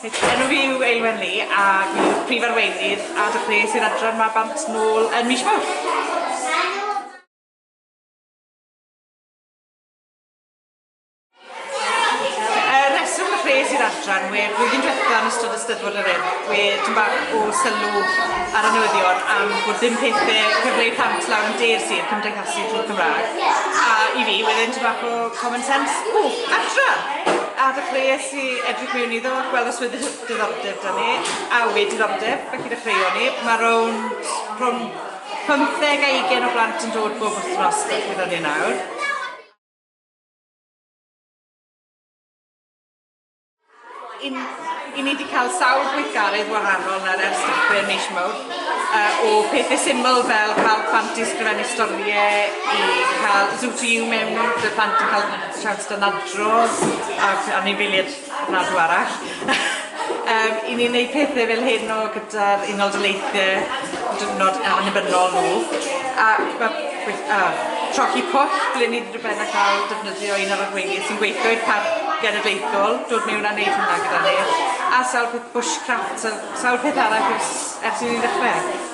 Enw fi yw Eilwen Lee a fi yw'r Prif Arweinydd a dechreuais i'r adran 'ma bant nôl yn mis Mawrth. Yr rheswm y rhes i'r adran we blwyddyn diwetha yn ystod y Steddfod yr Urdd we tym bach o sylw ar y newyddion am bod ddim pethe cyfle i plant lawr yn de'r sir cymdeithasu trwy'r Cymraeg a i fi wedd e'n tym bach o common sense, o! Adran! A dechreues i edrych mewn iddo, gweld os wedd diddordeb 'da ni a we diddordeb felly dechreuon ni. Mae rownd rhwng pymtheg a ugen o blant yn dod bob wythnos gyda ni nawr. Yn, i ni 'di cael sawl gweithgaredd wahanol nawr ers dipyn mis mawrth, uh, o pethe syml fel cael plant i sgrifennu storie, i cael Zoo to You mewn, ble plant yn cael siawns dynadro ac anifeiliaid Nadw arall. um, I ni'n gwneud pethau fel hyn o gyda'r Unol Daleithiau diwrnod annibynnol nhw. A mae uh, trochi pwll ble ni wedi ben a cael defnyddio un o'r arweinydd sy'n gweithio i'r parc genedlaethol, dod mewn a wneud hwnna gyda ni. A sawl peth bushcraft, sawl peth arall ers, ers i ni ddechrau.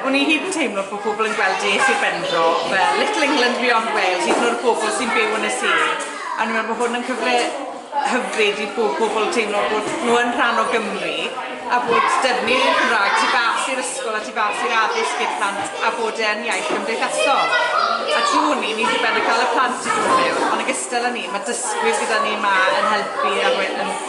O'n i hyd yn teimlo bod pobl yn gweld i Sir Benfro fel Little England Beyond Wales, hyd yn oed y pobl sy'n byw yn y sir. A o'n i'n meddwl bod hwn yn cyfle hyfryd i bob pobl teimlo bod nhw yn rhan o Gymru a bod defnydd i'r Cymraeg tu fas i'r ysgol a tu fas i'r addysg i'r plant a bod e'n iaith gymdeithasol. A trwy hwn i ni wedi cael y plant i fod yn byw, ond yn gystal Dyla ni, mae dysgwyr gyda ni 'ma yn helpu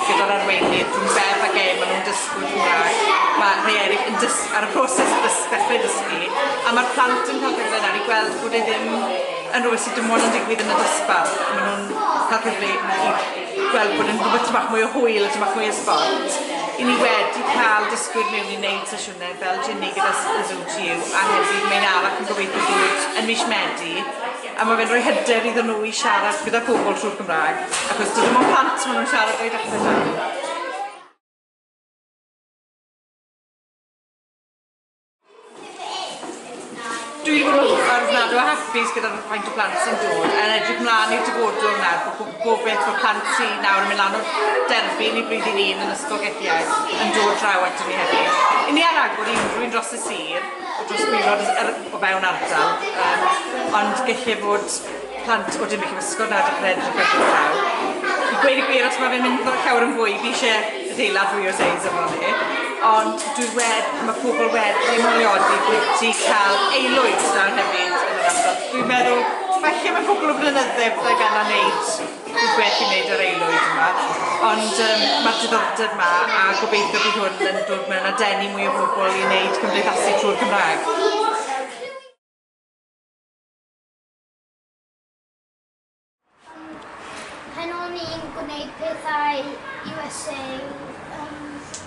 gyda'r arweinydd rhwng Bev a Gail, maen nhw'n dysgwyr Cymraeg. Mae rhai eraill yn dys- ar y proses o ddys- dechrau dysgu, a mae'r plant yn cael cyfle nawr i gweld bod e ddim yn rhywbeth sydd dim ond yn digwydd yn y dosbarth. Maen nhw'n cael cyfle i gweld bod e'n rhywbeth tymach mwy o hwyl a tymach mwy o sbort. I ni wedi cael dysgwyr mewn i wneud sesiynau fel Ginny gyda Zoo to You a hefyd mae un arall yn gobeithio bod yn mis Medi A mae fe'n rhoi hyder iddyn nhw i siarad gyda pobl trwy'r Gymraeg, achos dydyn nhw'n plant maen nhw'n siarad o'i dacen nhw. Dwi'n gwybod ar nad o hapus gyda'r faint o blant sy'n dod yn edrych mlaen i'r dyfodol yna, bod gobeith bod plant sy'n nawr yn mynd lan o'r derbyn i blwyddyn un yn ysgol gethiau yn dod draw ato ni hefyd. I ni ar agor i unrhyw'n dros y sir, dros milwr yr o fewn ardal yym ond gelle fod plant o Dinbych y Fysgod na dechre edrych ar y llaw. I gweud y gwir os mae fe'n mynd fel llawer yn fwy fi eisiau adeilad fwy o seis efo ni ond dwi wed mae pobl wedi moliodi bwyty cael aelwyd nawr hefyd yn yr ardal dwi'n meddwl falle mae cwpl o flynydde byddai gana neud Fi'n gwerthu neud yr aelwyd yma ond yym ma'r diddordeb 'ma a gobeithio bydd hwn yn dod mewn a denu mwy o bobl i neud cymdeithasu trwy'r Gymra'g. Pan o'n i'n gwneud pethau USA yym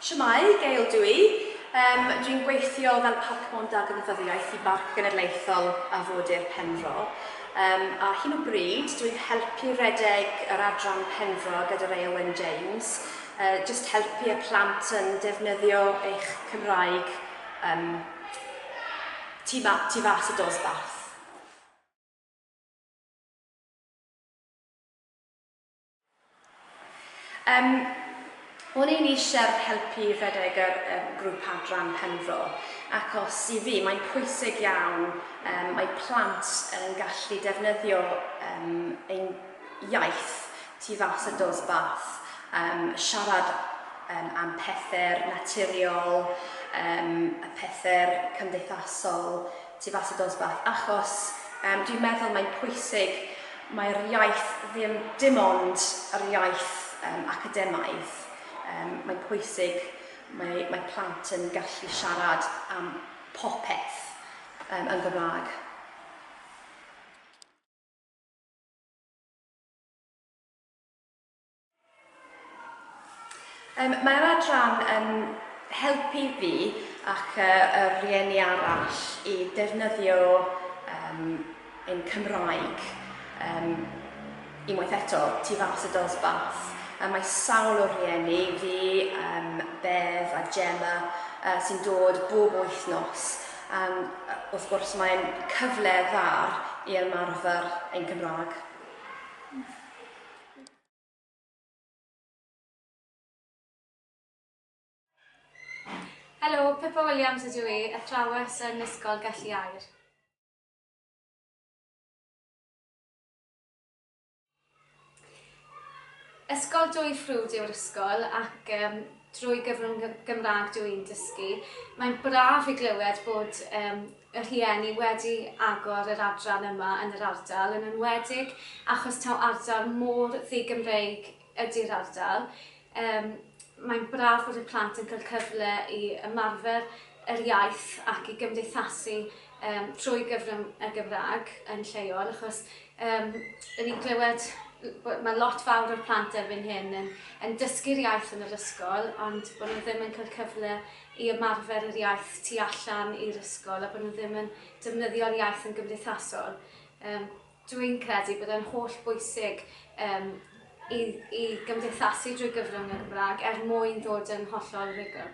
Shwmae, Gail dw i. Yym, dwi'n gweithio fel Parkmon da gydnabyddiaeth i Barc Genedlaethol Afodir Penfro. Yym, ar hyn o bryd, dwi'n helpu redeg yr adran Penfro gyda Ray Owen James, uh, just helpu y plant yn defnyddio eich Cymraeg um, tu, ma, tu fas y dosbarth. Yym, o'n i'n eisiau helpu rhedeg yr um, grŵp adran Penfro, achos i fi mae'n pwysig iawn, um, mae plant yn gallu defnyddio um, ein iaith tu fas y dos bath, um, siarad um, am pethau naturiol, um, y pethau cymdeithasol, tu fas i dosbarth achos yym dwi'n meddwl mae'n pwysig mae'r iaith ddim dim ond yr iaith um, academaidd um, mae'n pwysig mae, mae plant yn gallu siarad am popeth um, yn Gymraeg Um, mae'r adran yn helpu fi ac uh, y rhieni arall i defnyddio um, ein Cymraeg um, unwaith eto tu fas y dosbarth. A mae sawl o rhieni fi, um, Bev a Gemma, uh, sy'n dod bob wythnos. Um, wrth gwrs mae'n cyfle dda i ymarfer ein Cymraeg. Helo, Pippa Williams ydw i, athrawes yn Ysgol Gelli Aur. Ysgol Dwy Ffrwd yw'r ysgol ac um, drwy gyfrwng Gymraeg dw i'n dysgu. Mae'n braf i glywed bod um, y rhieni wedi agor yr adran yma yn yr ardal, yn enwedig achos taw ardal mor ddi-Gymreig ydi'r ardal. Yym, mae'n braf bod y plant yn cael cyfle i ymarfer yr iaith ac i gymdeithasu um, trwy gyfrwng y Gymraeg yn lleol, achos um, yn i'n clywed mae lot fawr o'r plant erbyn hyn yn, yn dysgu'r iaith yn yr ysgol, ond bod nhw ddim yn cael cyfle i ymarfer yr iaith tu allan i'r ysgol a bod nhw ddim yn defnyddio'r iaith yn gymdeithasol. Yym, dw i'n credu bod e'n holl bwysig um, i, i gymdeithasu drwy gyfrwng y Gymraeg er mwyn dod yn hollol rhugl.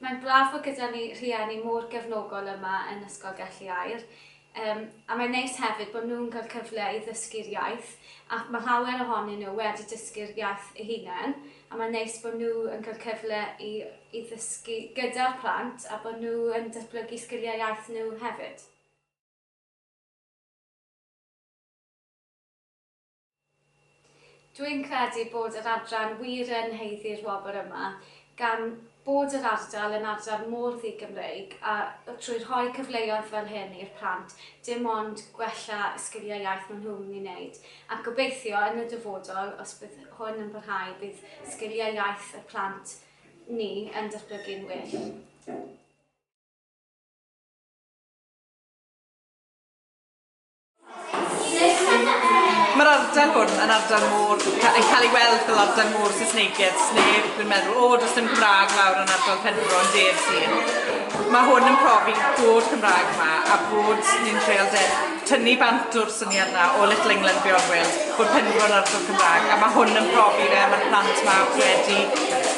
Mae'n braf bod gyda ni rhieni mor gefnogol yma yn Ysgol Gelli Aur. Yym, a mae'n neis hefyd bod nhw'n cael cyfle i ddysgu'r iaith, ac mae llawer ohonyn nhw wedi dysgu'r iaith eu hunain, a mae'n neis bod nhw yn cael cyfle i i ddysgu gyda'r plant a bod nhw yn datblygu sgiliau iaith nhw hefyd. Dwi'n credu bod yr adran wir yn haeddu'r wobr yma, gan bod yr ardal yn ardal mor ddi-Gymreig, a trwy rhoi cyfleoedd fel hyn i'r plant, dim ond gwella y sgiliau iaith maen nhw'n mynd i wneud, ac gobeithio, yn y dyfodol, os bydd hwn yn parhau, bydd sgiliau iaith y plant ni yn datblygu'n well. Mae'r ardal hwn yn ardal môr, yn cael ei weld fel ardal môr Saesneigedd, sneb yn meddwl, o, does dim Cymraeg lawr yn ardal Penfro yn de'r sir. Mae hwn yn profi bod Cymraeg yma a bod ni'n treol de, tynnu bant o'r syniad yna o Little England Beyond Wales, bod Penfro yn ardal Cymraeg, a mae hwn yn profi fe, mae'r plant yma wedi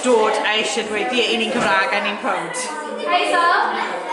dod a eisiau dweud, ie, i ni'n Cymraeg a ni'n proud. Hi, Sal.